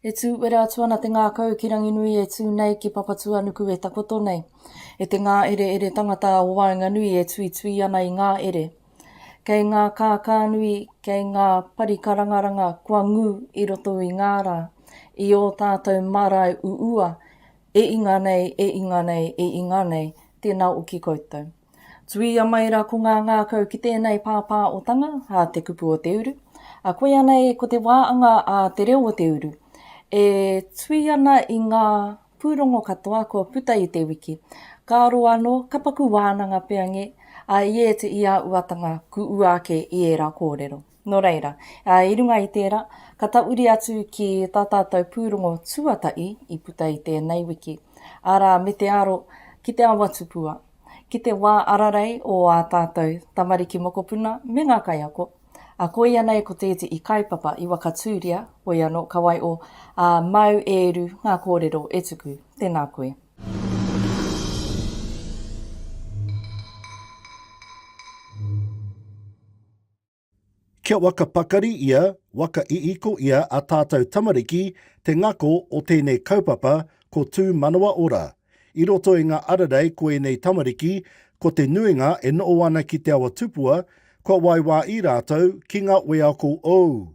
E tū uera atu ana te ngākau ki Ranginui e tū nei ki Papatūanuku e takoto nei. E te ngāereere tangata o waenganui e tuitui ana i ngā ere. Kei ngā kākānui, kei ngā parikarangaranga kua ngū i roto i ngā rā, i ō tātou mārae uua, e inga nei, e inga nei, e inga nei, tēnā o ki koutou. Tuia mai ra ko ngā ngākau ki tēnei pāpāotanga a Te Kupu o Te Uru, a koia nei ko te wā anga a Te Reo o Te Uru, e tui ana i ngā pūrongo katoa kua puta i te wiki, ka aro anō, ka paku wānanga peange a Iet i a Uatanga ku ua ake i ērā kōrero. Nō reira, i runga i tērā, ka tahuri atu ki tā tātou pūrongo tuatahi i puta i tēnei wiki, arā me te aro ki te awa tupua, ki te wā ararei o ā tātou tamariki mokopuna me ngā kaiako, ā, koia nei ko te iti i Kaipapa i Wakatūria, hoi anō, ka waiho, ā, māu e uru ngā kōrero e tuku. Tēnā koe. Kia waka pakari ia, waka iiko ia a tātou tamariki te ngako o tēnei kaupapa ko Tū Manawa Ora. I roto i ngā ararei ko ēnei tamariki, ko te nuinga e noho ana ki Te Awa Tupua, kua waiwā i rātou ki ngā weako ou.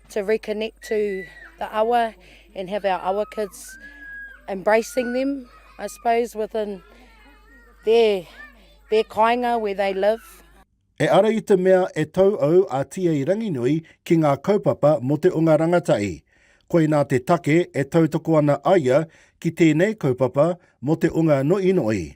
to reconnect to the awa and have our awa kids embracing them I suppose within their, their kainga where they live. E ara i te mea e tau au a TA Ranginui ki ngā kaupapa mō te onga rangatahi. Koinā te take e tautoko ana aia ki tēnei kaupapa mō te onga noiinoi.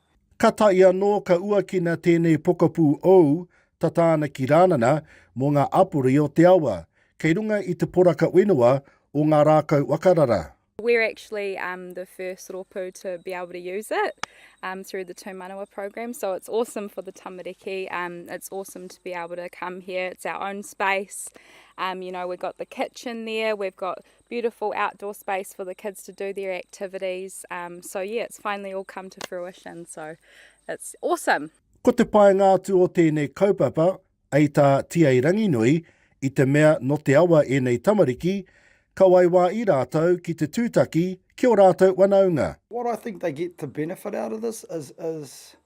Ka taea anō ka uakina tēnei pokapū ou tata ana ki Rānana mō ngā apori o te awa, kei runga i te poraka whenua o Ngā Rākau Wakarara. We're actually um the first ropu to be able to use it um through the Tūmanawa program so it's awesome for the tamariki um it's awesome to be able to come here it's our own space um you know we've got the kitchen there we've got beautiful outdoor space for the kids to do their activities. Um, so yeah, it's finally all come to fruition. So it's awesome. Ko te paenga atu o tēnei kaupapa, ei tā TeA Ranginui, i te mea no te awa ēnei tamariki, ka waiwā i rātou ki te tūtaki ki o rātou wanaunga. What I think they get to benefit out of this is, is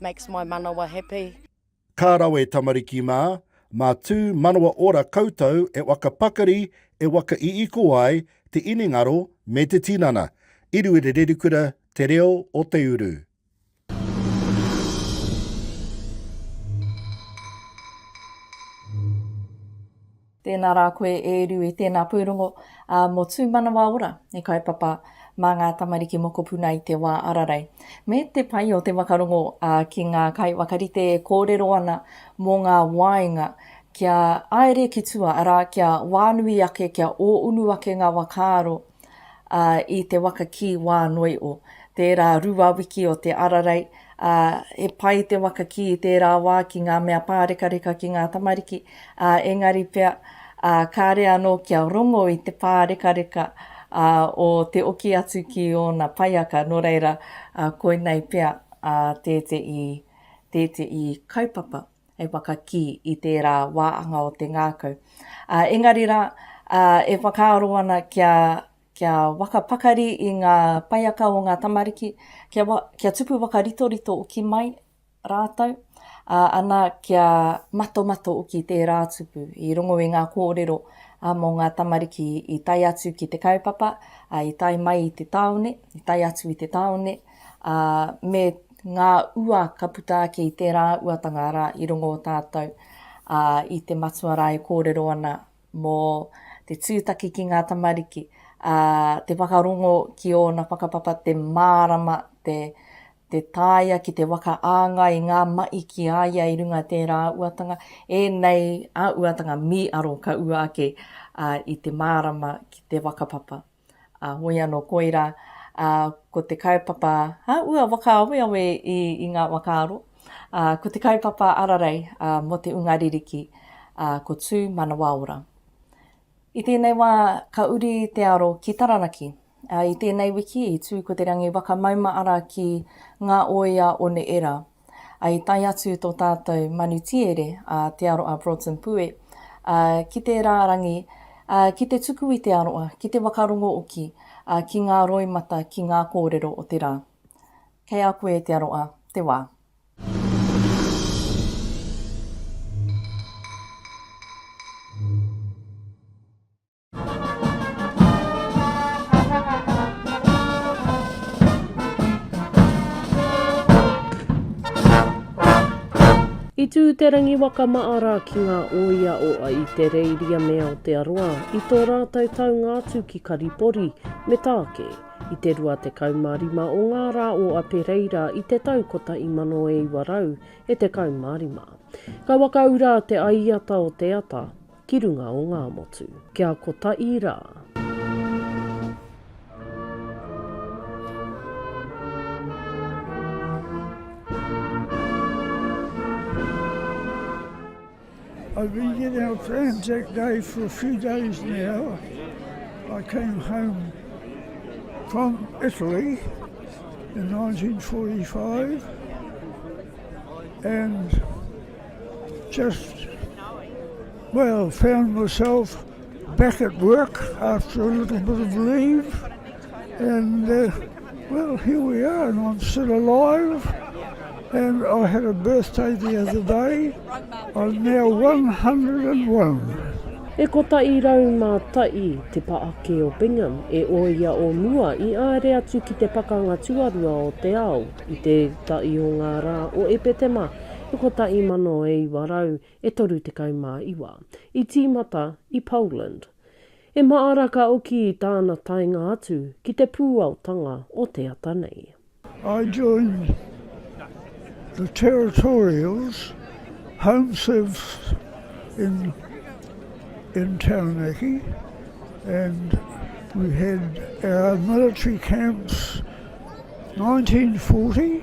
Makes my manawa happy. Ka rawe tamariki mā, mā tū manawa ora koutou e waka pakari e waka iiko ai te inengaro me te tinana. Iruirerikura te reo o te uru. Tēnā rā koe e Ru e tēnā pūrongo mō Tūmanawa Ora e kaupapa mā ngā tamariki mokopuna i te wā ararei me te pai o te wakarongo ki ngā kaiwhakarite e kōrero ana mō ngā wāinga kia aere ki tua arā kia wānui ake kia ōunu ake ngā wakaaro ā, i te waka kī wā noi o. Tērā rua wiki o te ararei, ā, he pai te waka kī i tērā wā ki ngā mea pārekareka ki ngā tamariki, ā, engari pea, ā, kāre anō kia rongo i te pārekareka, ā, o te oki atu ki ōna paiaka, nō reira, ā, koinei pea, ā, tēteī, tēteī kaupapa. e whakakī i tērā wāanga o te ngākau. Ā, engari rā, ā, e whakaaro ana kia, kia waka pakari i ngā paiaka o ngā tamariki, kia, wa, kia tupu waka ritorito uki mai rātou, ā, ana kia matomato uki tērā tupu i rongo i ngā kōrero ā, mō ngā tamariki i tae atu ki te kaupapa, ā, i tae mai i te tāone, i tae atu i te tāone, Ā, me ngā ua ka puta ake i tērā uatanga arā i rongo o tātou, ā, i te Matua rā e kōrero ana mō te tūtaki ki ngā tamariki, ā, te whakarongo ki ōna whakapapa, te mārama, te, te taea ki te waka āngai i ngā mahi ki a ia i runga tērā uatanga, ēnei a uatanga mī aro ka ua ake, ā, i te mārama ki te whakapapa. Ā, hoi anō koirā, ā, ko te kaupapa, ā, ua whakaaweawe i, i ngā whakaaro, ā, ko te kaupapa ararei, ā, mō te unga ririki, ā, ko Tū Manawaora. I tēnei wā, ka uri te aro ki Taranaki. Ā, i tēnei wiki, i tū ko Te Rangi Waka Mauma Ara ki Ngā Oia o Neera, ā, i tae atu tō tātou manu tiere, a Te Aroa Broughton Pue, ā, ki te rārangi, ā, ki te tuku i te aroa, ki te whakarongo hoki, ā, ki ngā roimata, ki ngā kōrero o te rā. Kei a koe, Te Aroa, te wā. I tū te rangiwaka maara ki ngā ōia o a i te Reiri a me Aotearoa i tō rātou taunga atu ki Karipori me Tāke i te 25 o ngā rā o Apereira i te tau 1975. Ka whakaura te aiata o te ata, ki runga o ngā motu. Kia kotahi rā. I've been getting up for Anzac Day for a few days now. I came home from Italy in 1945 and Just, well, found myself back at work after a little bit of leave, and uh, well, here we are, and I'm still alive. And I had a birthday the other day. I'm now 101. E kotaʻi rau mā taʻi te paʻake o Bingham e ōia o mua i āere atu ki te Pakanga Tuarua o te Ao i te taʻi o ngā rā o Epetema Kotahi mano e iwa rau e toru tekau mā iwa. I tīmata i Poland. E māra ka oki i tāna taenga atu ki te pūaotanga o te ata nei. I joined the Territorials Home Service in in Taranaki and we had our military camps nineteen forty.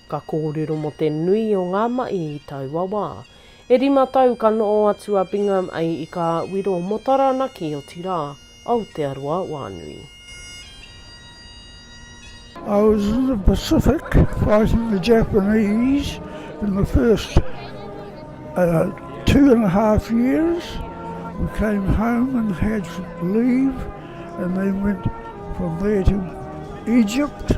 Ka kōrero mō te nui o ngā mahi i taua wā. E rima tau ka noho atu a Bingham ai i kā wiro mō Taranaki otirā Aotearoa wānui. I was in the Pacific fighting the Japanese in the first two and a half years. We came home and had leave and then went from there to Egypt.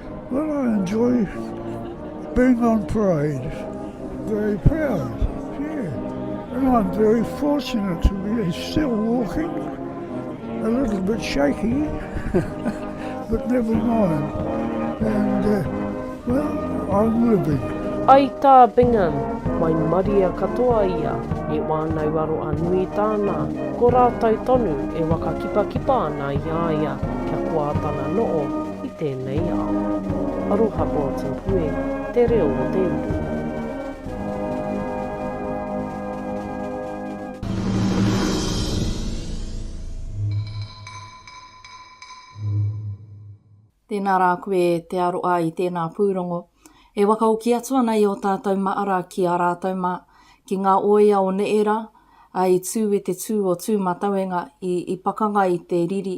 Well I enjoy being on parade, very proud, yeah, and I'm very fortunate to be still walking, a little bit shaky, but never mind, and uh, well I'm living. Ai tā Bingham, mai Maria katoa ia, e wānau aro a nui tāna, ko rātou tonu e whakakipakipa ana i a ia kia koa tana noo. i tēnei ao. Aroha Bulletin Pue te reo o te uru. Tēnā rā koe te aroa i tēnā pūrongo. E wakaoki atu ana i ō tātou maara ki ā rātou mā, ki ngā oea o neera, ā, i tū i te tū o Tūmatauenga, i, i pakanga i te riri.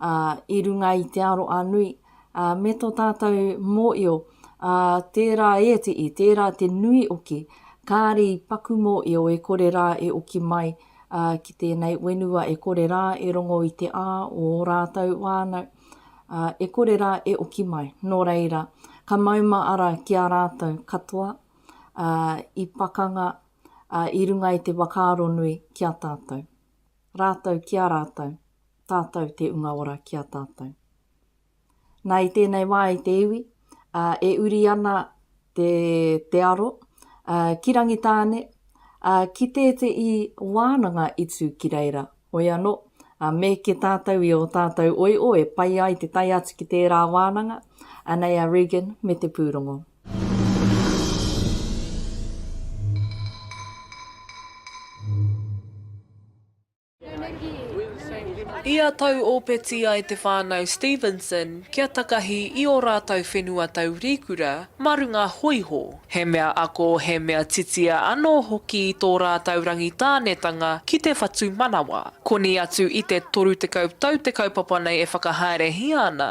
ā, i runga i te aro a nui, ā, me tō tātou mōio, ā, tērā e te i, tērā te nui oki, kāre i paku mōio e kore rā e oki mai, ā, ki tēnei wenua e kore rā e rongo i te ā o ō rātou wānau, ā, e kore rā e oki mai, nō reira, ka mauma ara ki a rātou katoa, ā, i pakanga, ā, i runga i te whakaaro nui ki a tātou. Rātou ki a rātou, tātou te unga ora ki a tātou. Nā, i tēnei wā, i te iwi, ā, e uri ana te, te aro, ā, ki Rangitāne, ā, ki tētehi wānanga i tū ki reira. Hoi anō, ā, mēke tātou i ō tātou oio e pai ai te tae atu ki tērā wānanga, anei a Regan me te pūrongo. Ia tau ōpeti ai te whānau Stevenson kia takahi i ō rātou whenua taurīkura mā runga hōiho, he mea ako, he mea titia anō hoki i tō rātou rangitānetanga ki te whatumanawa. Koni atu i te 30 tau te kaupapa nei e whakahaerehia ana,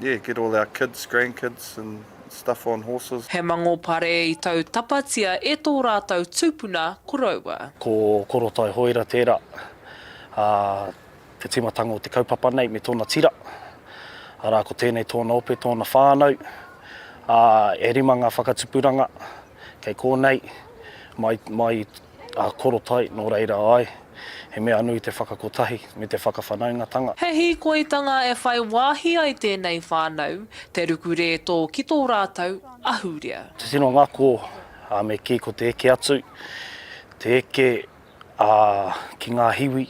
Yeah, get all our kids, grandkids and stuff on horses. He mangopare i tau tapatia e tō rātou tūpuna koroua. Ko Korotai Hoira tērā, ā, te tīmatanga o te kaupapa nei me tōna tira, arā, ko tēnei tōna ope, tōna whānau, ā, e rima ngā whakatupuranga kei kōnei, mai, mai Ā Korotai, nō reira āe, he mea nui te whakakotahi me te whakawhanaungatanga. He hīkoitanga e whai wāhi ai tēnei whānau, te ruku rētō ki tō rātou ahurea. Tino ngako ā me kī ko te eke atu, te eke ā ki ngā hiwi.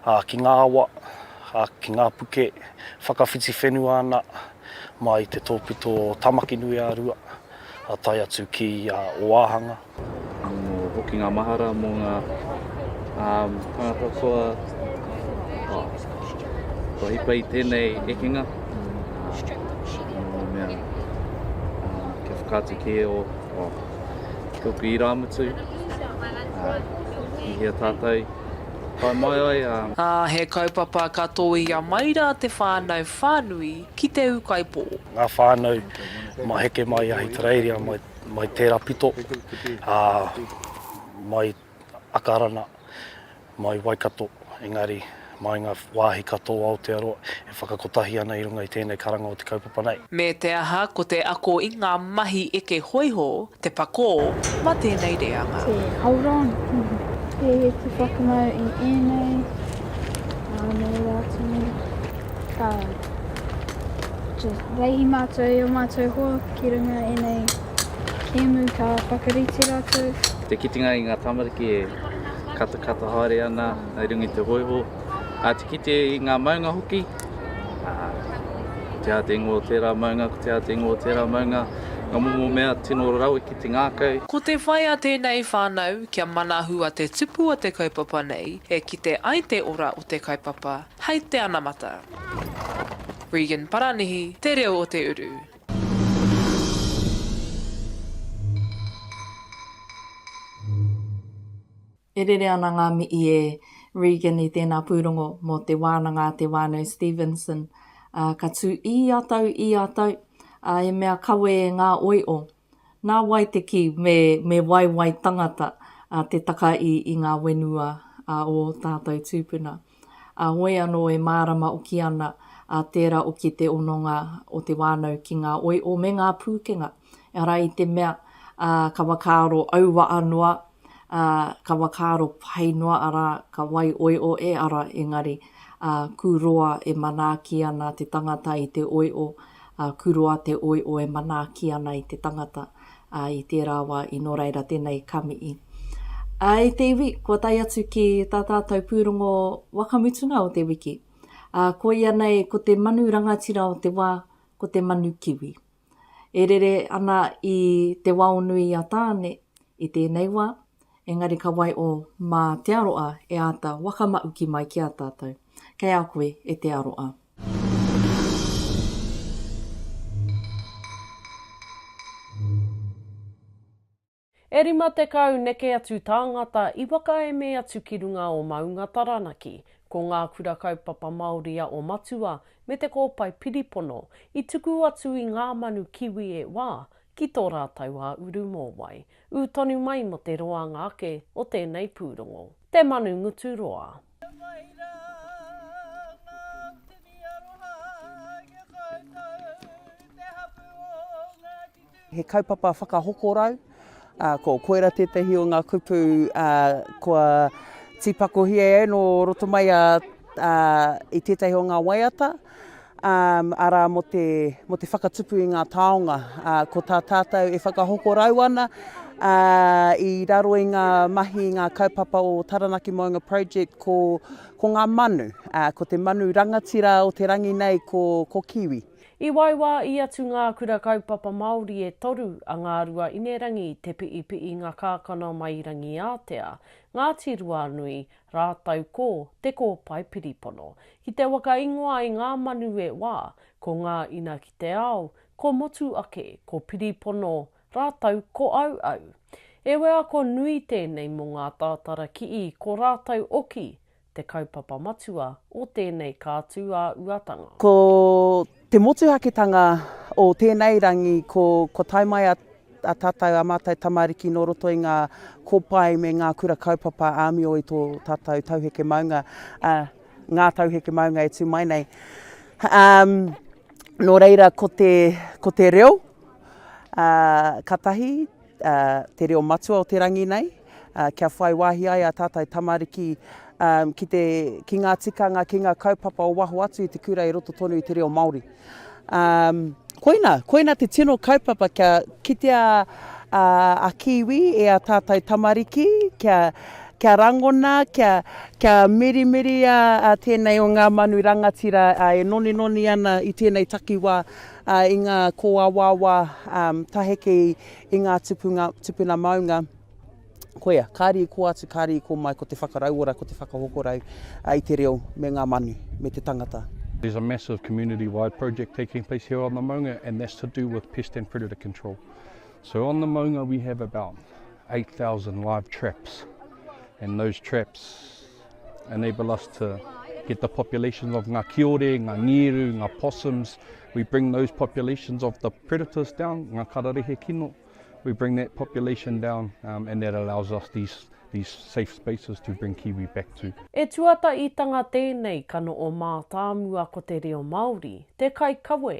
ā, ki ngā awa, ā, ki ngā puke, whakawhiti whenua ana mā i te tōpito o Tāmaki-nui-ā-Rua, ā, tae atu ki a Ōāhanga. Anō hoki ngā mahara mō ngā tāngata kua hipa i tēnei ekenga, nō mea kia whakaatu kē o tōku irāmutu, i hea tātou. Whai mai ai a. Ā, he kaupapa ka tōia mai rā te whānau whānui ki Te Ūkaipō. Ngā whānau ma heke mai i Ahitereiria mai, mai tērā pito, ā, mai Akarana, mai Waikato, engari mai ngā wāhi katoa o Aotearoa, E whakakotahi ana i runga i tēnei karanga o te kaupapa nei. Me te aha, ko te ako i ngā mahi eke hōiho te pakō mā tēnei reanga. E hold on! He te whakamau i ēnei, ānei rā tonu, ā, just waihi mātou i ō mātou hoa ki runga i ēnei kēmu ka whakarite rātou. Te kitenga i ngā tamariki e katakata haere ana i runga i te hōiho. Ā, te kite i ngā maunga hoki, ā, ko te ātengo o tērā maunga, ko te ātengo o tērā maunga, ngā momo mea tino rawe ki te ngākau. Ko te whai a tēnei whānau, kia manahua te tupu o te kaupapa nei, e kite ai te ora o te kaupapa, hei te anamata. Regan Paranihi, Te Reo o te Uru. E rere ana ngā mihi e Regan i tēnā pūrongo mō te wānanga a Te Whānau Stevenson, ā, ka tū i a tau, i a tau, ā, he mea kawe e ngā oio. Nā wai te kī me, me waiwai tangata, ā, te taka i, i ngā whenua, ā, o ō tātou tūpuna. ā, hoi anō e mārama oki ana a tērā oki te hononga o te wānau ki ngā oio me ngā pūkenga, arā i te mea, ā, ka whakaaro auaha noa, ā, ka whakaaro pai noa, arā, ka wai oio e ara, engari, ā, kū roa e manaaki ana te tangata i te oio, ā, kū roa te oio e manaaki ana i te tangata. Ā, i tērā wā i nō reira tēnei kamihi. Ā, i te iwi, kua tae atu ki tā tātou pūrongo waka mutunga o te wiki. Ā, koia nei ko te manu rangatira o te wā, ko te manu kiwi. E rere ana i te waonui a Tāne i tēnei wā, engari ka waiho mā te aroa e āta whakamahuki mai ki a tātou. Kei a koe e te aroa. E rima tekau neke atu tāngata i whakaeme atu ki runga o Maunga Taranaki. Ko ngā Kura Kaupapa Māori a O Matua me Te Kōpae Piripono i tuku atu i ngā manu kiwi e wā ki tō rātou a Uru Mōwai, ū tonu mai mō te roanga ake o tēnei pūrongo. Te Manu Ngutu Roa. Kia whai ra nga tini aroha ki a koutou, te hapu o Ngati Tuhoe. He kaupapa whakahokorau, ko koira tētahi o ngā kupu kua tīpakohia e ai nō roto mai i tētahi o ngā waiata. um, arā mo te, mo te whakatupu i ngā taonga. Uh, ko tā tātou e whakahoko rau ana uh, i raro i ngā mahi, i ngā kaupapa o Taranaki Moenga Project ko, ko ngā manu, uh, ko te manu rangatira o te rangi nei ko, ko kiwi. I waiwā i atu ngā kura kaupapa Māori e toru a Ngārua Inerangi, Te Piipiinga Kākano mai Rangiātea, Ngāti Ruanui, Rātou ko Te Kōpae Piripono. Ki te waka ingoa i ngā manu e wā, ko ngā ina ki te ao, ko Motuake, ko Piripono, rātou ko Auau. E wheako nui tēnei mō ngā tātara kii ko rātou oki te kaupapa matua o tēnei kātūāuatanga. Ko Te motuhaketanga o tēnei rangi ko kua tae mai a a tātou, a mātou tamariki nō roto i ngā kōpae me ngā kura kaupapa āmio i tō tātou tauheke maunga, a, ngā tauheke maunga e tū mai nei. Um, nō reira, ko te, ko te reo, a, ka tahi, te reo matua o te rangi nei, kia whai wāhi ai ā tātou tamariki ki te, ki ngā tikanga, ki ngā kaupapa o waho atu i te kura i roto tonu i te reo Māori. Koina, koina te tino kaupapa kia kitea a Kiwi e ā tātou tamariki, kia, kia rangona, kia, kia mirimiria tēnei o ngā manu rangatira e noninoni ana i tēnei takiwā I ngā kōawaawa taheke i ngā tupunga, tupuna maunga, koia, kāre i kō atu, kāre i kō mai ko te whakarauora, ko te whakahokorau i te reo me ngā manu, me te tangata. There's a massive community wide project taking place here on the maunga and that's to do with pest and predator control. So on the maunga we have about 8,000 live traps and those traps enable us to get the populations of ngā kiore, ngā ngiru, ngā possums, we bring those populations of the predators down, ngā kararehe kino, we bring that population down um, and that allows us these, these safe spaces to bring kiwi back to. E tuataitanga tēnei ka noo mātāmua ko te reo Māori, te kaikawe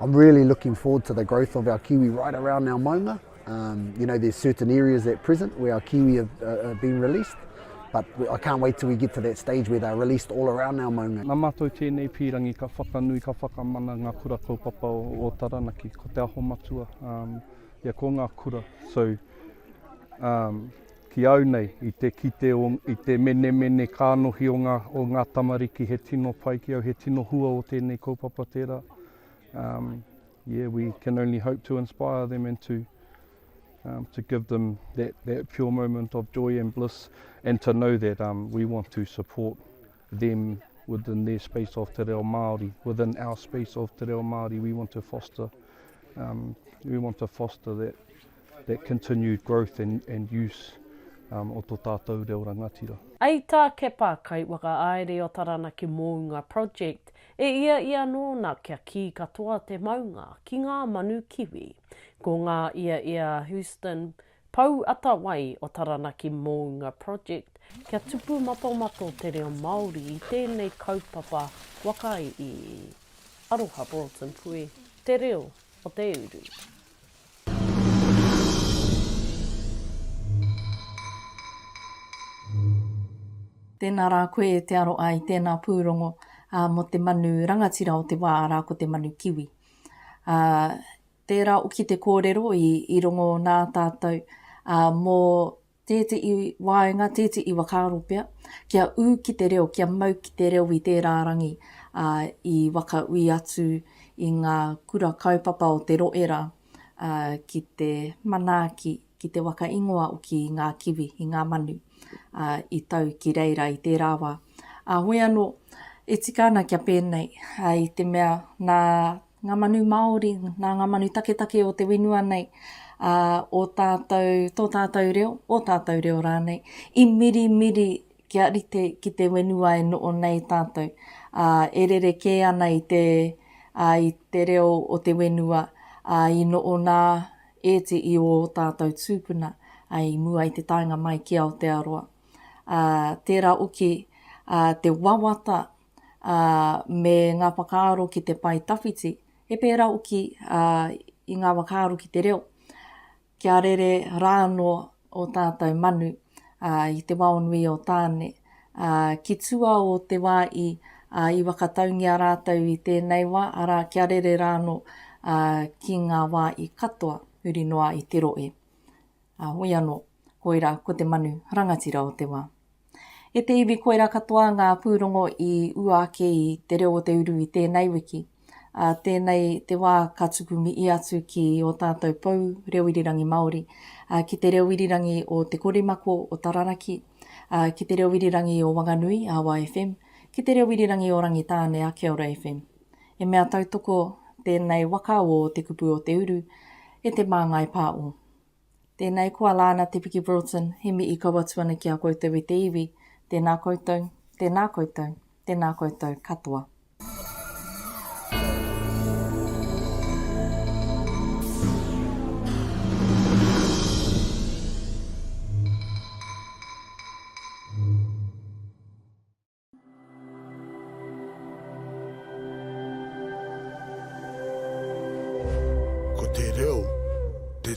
I'm really looking forward to the growth of our kiwi right around our maunga. Um, you know, there's certain areas at present where our kiwi have, uh, have been released, but I can't wait till we get to that stage where they're released all around our maunga. Nā mātou tēnei pīrangi ka whakanui, ka whakamana ngā kura kaupapa o, o Taranaki, ko Te Aho Matua, um, yeah, ko ngā kura. So, um, Ki au nei, i te kite o, i te menemene kānohi o ngā, o ngā tamariki, he tino pai ki au, he tino hua o tēnei kaupapa tērā. Um, yeah, we can only hope to inspire them and to, um, to give them that, that pure moment of joy and bliss and to know that um, we want to support them within their space of te reo Māori, within our space of te reo Māori, we want to foster, um, we want to foster that, that continued growth and and use um o to tatou reo rangatira. I tā Kepa Kaiwhakaāere o Taranaki Mounga Project, e ia ia nōna kia kī katoa te maunga ki ngā manu kiwi. Ko ngā ia ia Houston Pou Atawai o Taranaki Mounga Project kia tupu matomato te reo Māori i tēnei kaupapa waka i Aroha Broughton Pui te reo o te uru. Tēnā rā koe e te aro ai tēnā pūrongo mō te manu rangatira o te wā arā ko te manu kiwi. Tērā hoki te kōrero i rongo nā tātou mō tētehi waenga, tētehi whakaaro pea, kia ū ki te reo, kia mau ki te reo i tērā rangi, ā, i whakaui atu i ngā kura kaupapa o te rohe rā, ā, ki te manaaki, ki te waka ingoa hoki i ngā kiwi, i ngā manu, ā, i tau ki reira i tērā wā. Ā, hoi anō, e tika ana kia pēnei, ā, i te mea nā Ngā manu Māori, nā ngā manu taketake o te whenua nei, ā, ō tātou, tō tātou reo, ō tātou reo rānei, i mirimiri kia rite ki te whenua e noho nei tātou, ā, e rerekē ana i te, ā, i te reo o te whenua, ā, i noho nā ēti i ō tātou tūpuna, ā, i mua i te taenga mai ki Aotearoa. Ā, tērā hoki, ā, te wawata ā, me ngā whakaaro ki te pae tawhiti, he pērā hoki i ngā whakaaro ki te reo, kia rere rā anō ō tātou manu i te wao nui o Tāne. Ki tua o te wā i whakataungia rātou i tēnei wā, arā, kia rere rā anō ki ngā wā i katoa huri noa i te rohe. Ā, hoi anō, koirā ko te manu rangatira o te wā. E te iwi koirā katoa ngā pūrongo i ua ake i Te Reo o te Uru i tēnei wiki, ā, tēnei te wā ka tuku mihi atu ki ō tātou pou reo irirangi Māori, ā, ki te reo irirangi o Te Korimako o Tararaki, ā, ki te reo irirangi o Wanganui, Awa FM, ki te reo irirangi o Rangitāne, Akeora FM. He mea tautoko tēnei waka o Te Kupu o te Uru e Te Māngai Pā o. Tēnei koa Lana Te Piki Broughton He mihi kau atu ana ki a koutou e te iwi Tēnā koutou Tēnā koutou Tēnā koutou katoa. Ko te reo te.